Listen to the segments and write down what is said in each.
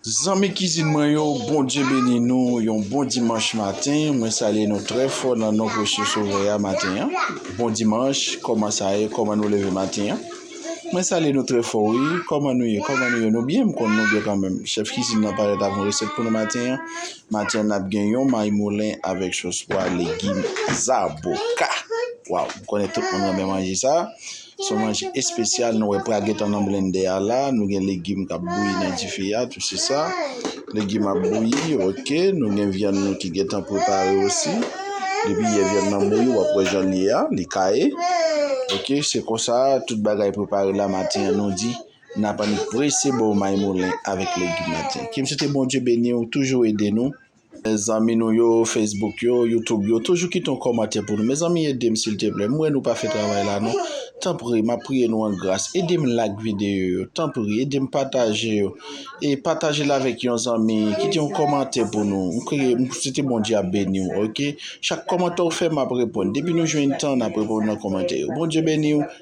Zanmi kizin mwen yo Bondye beni nou yon bon dimanch maten mwen salye nou trè fò nan non presye sovè a maten an bon dimanch kòman sa ye kòman nou leve maten an mwen salye nou trè fò wi kòman nou ye kòman nou ye nou byen m konn nou byen kanmèm chèf kizin nan parèt avk yon resèt pou nou maten an maten an nap gen yon may moulen avèk sos pwa legim zaboka waw m konnen tout moun renmen manje sa. Son manje espesyal nou wè pral gentan nan blendè a la. Nou gen legim kap bouyi nan dife a tou se sa. Legim ap bouyi ok. Nou gen vyann nou ki gentan prepare osi. Depi yè vyann nan bouyi wap wè jan li ye a. Li kaye. Ok se konsa tout bagay prepare la maten an nou di nap annik prese baw maymoulen avèk legim maten. Kim se te Bondye beniw toujou ede nou. Zanmi nou yo Facebook yo YouTube yo toujou kite yon kòmantè pou nou mezanmi edem silteplè m wè nou pa fè travay la non tanpri map priye nou an gras edem like videyo yo tanpri edem pataje yo e patajel avèk yon zanmi kite yon kòmantè pou nou m priye m swete Bondye ap beniw ok chak kòmantè ou fè map reponn depi nou jwenn tan nap reponn nan kòmantè yo Bondye beniw.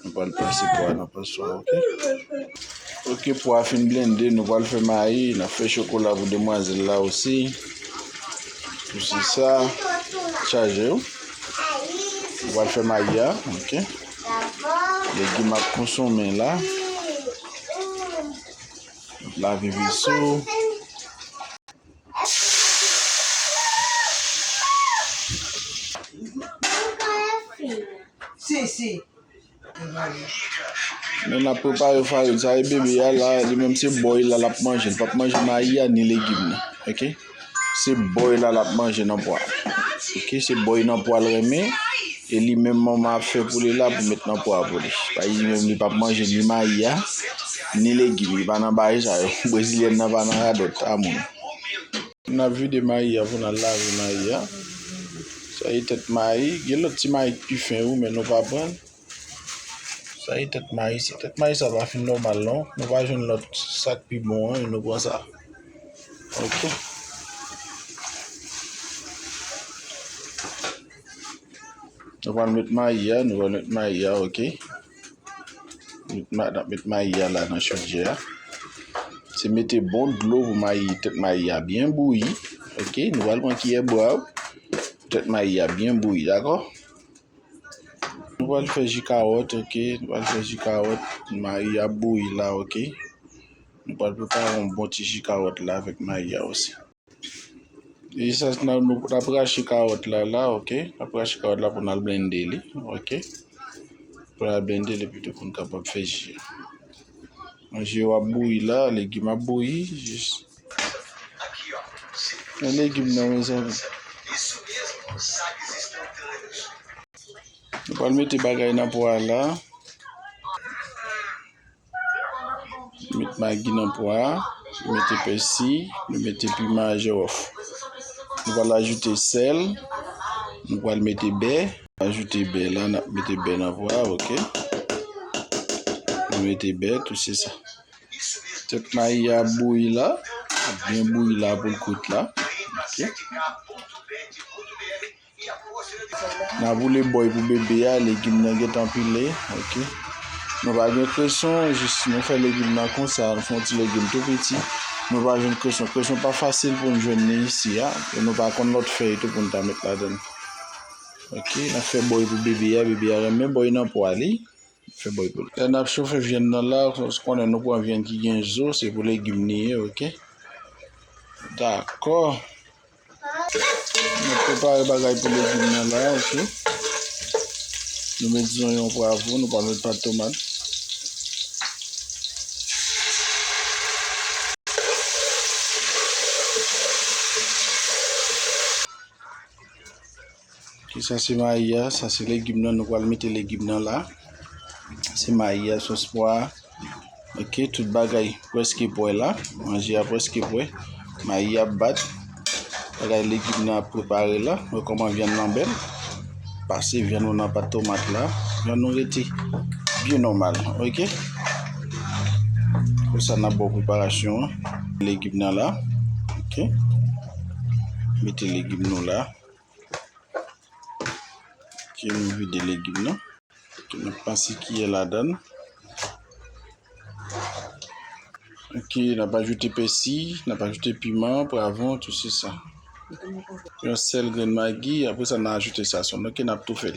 Nou pral pase pwa nan panswa ok. Ok pwa a fin blende nou pral fè mayi nap fè chokola pou demwazel la osi pou se sa chaje ou nou pral fè mayi a ok legim ap konsonmen la nap lave veso. Moun ap prepare farin sa e bebe ya la li menm se boy la lap manje li pap manje mayi ya ni legim nan ok se boy la lap manje nan pwa ok se boy nan pwa l renmen E li menm manman ap fè pou li la pou met nan pwa pou li. Payi li menm li pap manje ni mayi a, ni legim. Li pa nan bagay sa yo. Brezilyèn nan pa nan radòt a moun. N ap vide mayi a pou n al lave mayi a. Sa e tèt mayi. Gen lòt ti mayi k pi fen wi men nou pa pran l. Sa e tèt mayi. Tèt mayi sa pa fin nòmal non. Nou pa jwenn lòt sa k pi bon an e nou pran sa. Ok. Nou pral met mayi a, nou pral met mayi a ok. Nap met mayi a la nan chodyè a. Se mete bon dlo pou mayi tèt mayi a byen bouyi ok. Nou pral pran kiyè bwa ou pou tèt mayi a byen bouyi dakò. Nou pral fè ji kawòt ok, nou pral fè ji kawòt. Mayi a ap bouyi la ok. Nou pral prepare yon bon ti ji kawòt la avèk mayi a osi. Usage nan nou ap rache kawòt la la ok ap rache kawòt la pou nan blende li ok pou nan blende li pito pou n kapab fè ji an ji yo ap bouyi la legim ap bouyi jis nan legim nan mezanmi nou pral mete bagay nan pwa la. Nou met magi nan pwa a, nou mete pèsi, nou mete piman a jòf. Nou pral ajoute sèl, nou pral mete bè, ajoute bè la, n ap mete bè nan pwa a, ok. Nou mete bè, tout se sa. Tèt mayi a ap bouyi la, ap byen bouyi la pou l kout la, ok. Na boule bòy pou bebe a, legim nan gentan pile, ok. Nou pa gen kreson, jis nou fè legim nan konsa, nou fon ti legim tou piti. Nou pa jwenn kreson, kreson pa fasil pou nou jwenn ni isi a, e nou pa konn lòt fèy tou pou nou ta met ladann. Ok, na fè bòy pou bebe a, bebe a renmen bòy nan pwa li, fè bòy pou li. Lè nap chofe vyann nan la, ou konnen nou pran vyann ki gen zo, se pou legim li ye, ok. Dakò. Nou prepare bagay pou legim nan la ok. Nou met zonyon pwavro, nou pa met pat tomat. Ok sa se mayi a, sa se legim nan, nou pral mete legim nan la. Se mayi a, sos pwa a. Ok, tout bagay preske pwè la. Manje a preske pwè. Mayi a bat. Bagay legim nan ap prepare la. Mwen koman vyan nan bel. Pase vyan nou nan pat tomat la. Vyan nou rete byen nomal. Ok. Kon sa nan bon preparasyon. Legim nan la. Ok. Mete legim nou la. Ki nou vide legim nan. Ki nou pase kiye ladan. Ok, nan pa joute pesi, nan pa joute piman, pwavon, tout se sa. Yon sel gren magi, apre sa nan ajoute sa son. Ok, nan ap tou fel.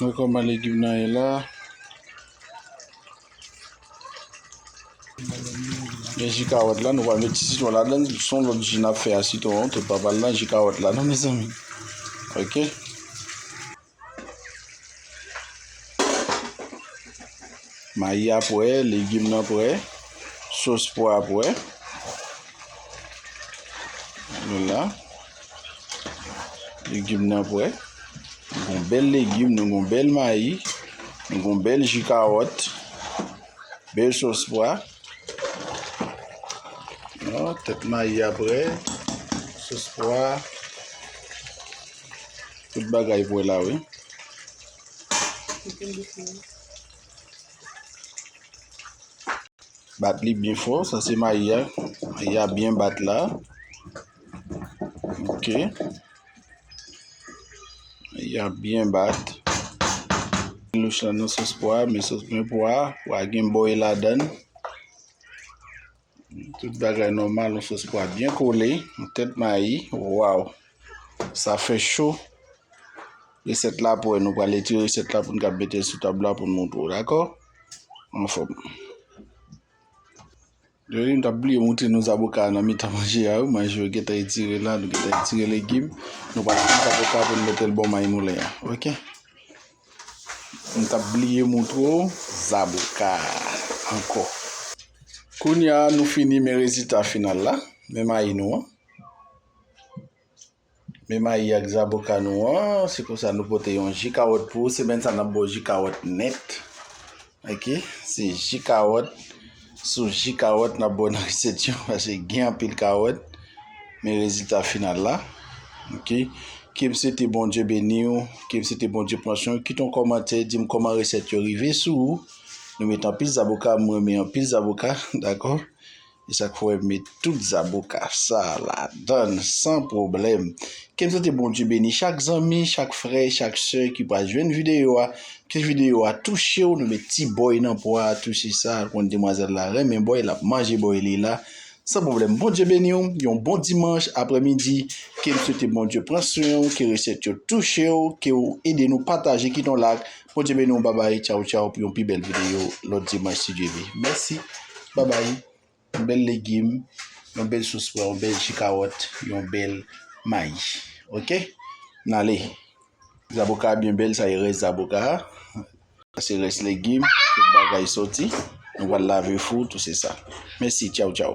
Mwen kòman legim nan ye la. Gen ji kawòt la, nou pral met ti sitwon ladan l, son lòt ji n ap fè a sitwon an, tout pa pral nan ji kawòt la non mezanmi ok. Mayi a pwè, legim nan pwè, sos pwa a pwè. Nou la. Legim nan pwè. Nou gon bèl legim, nou gon bèl mayi, nou gon bèl ji kawòt, bèl sos pwa. Tèt mayi a pwè, sos pwa. Tout bagay vwe la wi. Bat li byen fò. Sa se mayi a. Mayi a byen bat la. Ok. Mayi a byen bat. Nou chan nan sos pwa. Men sos pwen pwa. Pwa gen boy la dan. Tout bagay nòmal yon sòs pwa byen kole, yon tèt mayi, waw sa fè cho resèt la ap wè nou pral etire resèt la poun ka metel sou tab la poun moutre w dakò anfòm m tap bliye moutre nou zaboka nan mitan manje a wi manje yo gentan etire la nou gentan etire legim nou pral pran zaboka poun metel bò mayi moulen an ok. M tap bliye moutre w zaboka anko. Kounya nou fini men rezita final la. Men mayi nou an. Men mayi ak zaboka nou an. Se konsa nou pote yon ji kawòt pou ou. Semèn sa nap ba w ji kawòt nèt. Ok se ji kawòt sou ji kawòt nap bo nan resèt yo paske gen anpil kawòt men rezilta final la ok ke m swete Bondye beni w ke m swete Bondye pran swen w kite yon kòmantè di m kòman resèt yo rive sou ou nou met anpil zaboka m renmen anpil zaboka dakò. E sa k fè w wè m met tout zaboka sa a ladan l san pwoblèm. Ke m swete Bondye beni chak zanmi, chak frè, chak sè ki pral jwenn videyo a. Ke videyo a touche w. Nou met ti bòy nan pwa a tou se sa. Konn demwazèl la renmen bòy, l ap manje bòy li la san pwoblèm. Bondye beni w. Yon bon dimanch aprèmidi. Ke m swete Bondye pran swen w. Ke resèt yo touche w. Ke w ede nou pataje, kite yon lak, Bondye beni w babay tchaw tchaw pou yon pi bèl videyo lòt dimanch si Dye ve. Mèsi babay yon bèl legim yon bèl sous pwa yon bèl ji kawòt yon bèl mayi ok n ale. Zaboka a byen bèl sa e rès zaboka a sa se rès legim tout bagay sòti nou pral lave fou tou se sa mèsi tchaw tchaw.